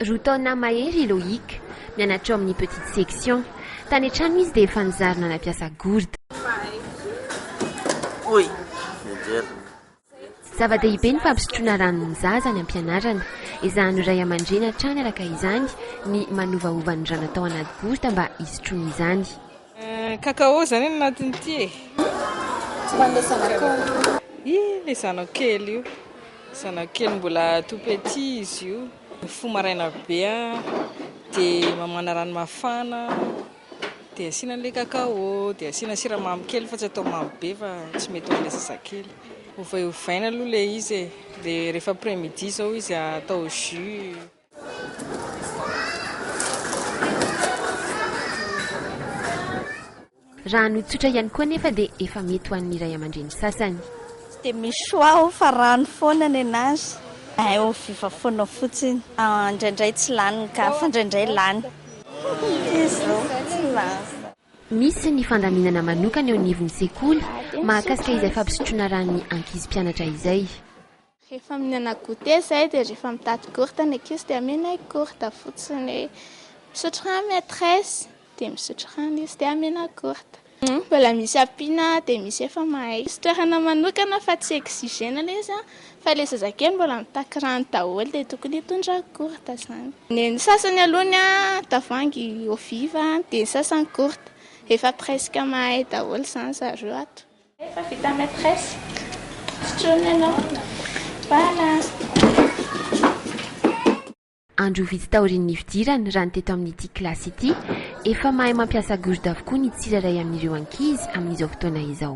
Roa taona mahery i Loïc, mianatra ao amin'ny petite section. Tany an-trano izy dia efa nizary nanapiasa gourde. Zava-dehibe ny fampisotroana rano ny zaza any am-pianarana. Ezahan'ny ray aman-dreny hatrany araka izany ny manovaova ny rano atao anaty gourde mba hisotroany izany. Cacao zany ny anatiny ity e! Tsy ho an'ilay zanakao. Ilay zanako kely io. Zanako kely mbola tout petit izy io. Mifoha maraina be dia mamana rano mafana dia asiana an'ilay cacao dia asiana siramamy kely fa tsy atao mamy be fa tsy mety ho an'ilay zazakely. Ovaiovaina aloha ilay izy e, dia rehefa après midi izao izy atao jus. Raha hanody tsotra ihany koa anefa dia efa mety ho an'ny ray aman-dreny sasany. Dia michoix aho fa rano foana nenazy eh oh viva foana fotsiny ah indraindray tsy lany ny cas fa indraindray lany izy oh tsy lany. Misy ny fandaminana manokana eo anivon'ny sekoly mahakasika izay fampisotroana ran'ny ankizy mpianatra izay. Rehefa mihinana goûter izay dia rehefa mitady gourte ny ankizy dia amena ny gourte fotsiny hoe misotro rano maitresse dia misotro rano izy dia amena gourte. Mbola misy ampiana dia misy efa mahay. Misy toerana manokana fa tsy exigena ilay izy fa ilay zazakely mbola mitaky rano daholo dia tokony hitondra gourte izany. Ny sasany aloha ny tavoahangy eau vive dia ny sasany gourte, efa presque mahay daholo izany zareo ato. Efa vita maîtresse. Sotroiny ianao. Voilà. Andro vitsy taorian'ny nifidirany, raha ny teto amin'ity kilasy ity, efa mahay mampiasa gourde avokoa ny tsirairay amin'ireo ankizy amin'izao fotoana izao.